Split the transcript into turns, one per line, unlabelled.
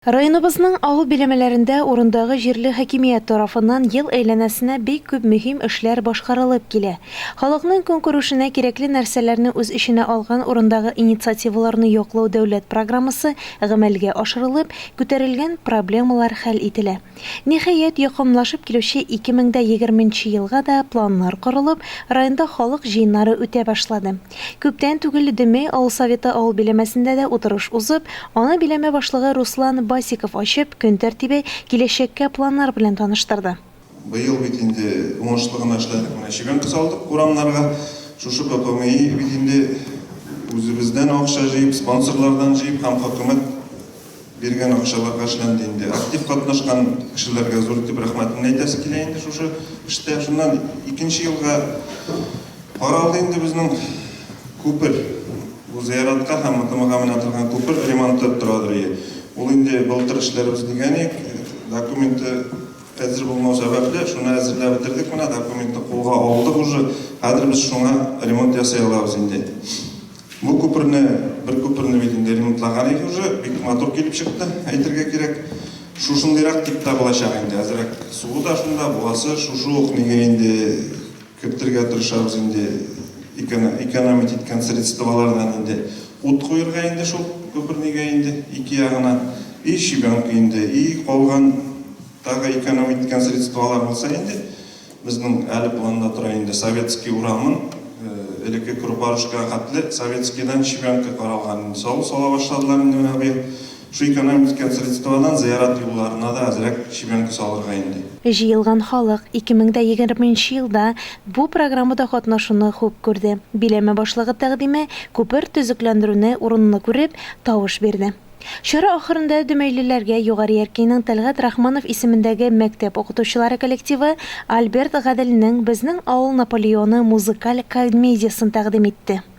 Районыбызның авыл биләмәләрендә урындагы җирле хакимият тарафыннан ел әйләнәсенә бик күп мөһим эшләр башкарылып килә. Халыкның көнкүрешенә кирәкле нәрсәләрне үз эченә алган урындагы инициативаларны яклау дәүләт программасы гамәлгә ашырылып, күтәрелгән проблемалар хәл ителә. Ниһаять, якынлашып килүче 2020 нче елга да планнар корылып, районда халык җыеннары үтә башлады. Күптән түгел Дөмей авыл Советы авыл биләмәсендә дә утырыш узып, аны биләмә башлыгы Руслан Басиков ачып, көн тәртибе, киләчәккә планнар белән таныштырды. Быел бит инде уңышлы гына эшләдек, менә чебенка салдык урамнарга. Шушы БПМИ бит инде үзебездән акча җыеп, спонсорлардан җыеп һәм хөкүмәт Биргән акчаларга эшләнде инде. Актив катнашкан кешеләргә зур итеп рәхмәтемне әйтәсе килә инде шушы эштә. Шуннан икенче елга каралды инде безнең күпер. Бу зыяратка һәм МТМга менә торган күпер ремонты торадыр ие. Ул инде былтыр эшләрбез дигән идек. Документы әзер булмау сәбәпле, шуны әзерләп бетердек менә, документны кулга алдык уже. Хәзер без шуңа ремонт ясый алабыз инде. Бу күперне, бер күперне бит инде ремонтлаган иде уже, бик матур килеп чыкты, әйтергә кирәк. Шушындыйрак дип тә булачак инде, әзрәк суы да шунда, буасы шушы ук, нигә инде кертергә тырышабыз инде, экономить иткән средстволардан инде ут куерга инде шул күпер, нигә инде ике ягына и щебенка инде, и калган тагы экономить иткән средстволар булса инде, Безнең әле планда тора инде Советский урамын, элекке Курпарушкага хәтле Советскийдан Чебянка каралган инде, салу сала башладылар инде менә быел. Шул экономить иткән средстводан зыярат юлларына да әзрәк Чебянка салырга инде. Җыелган халык 2020 нче елда бу программада катнашуны хуп күрде. Биләмә башлыгы тәкъдиме, күпер төзекләндерүне урынлы күреп, тавыш бирде. Чара ахырында дөмәйлеләргә Югары Яркәйнең Тәлгать Рахманов исемендәге мәктәп укытучылары коллективы Альберт Гаделнең Безнең авыл Наполеоны музыкаль комедиясен тәкъдим итте.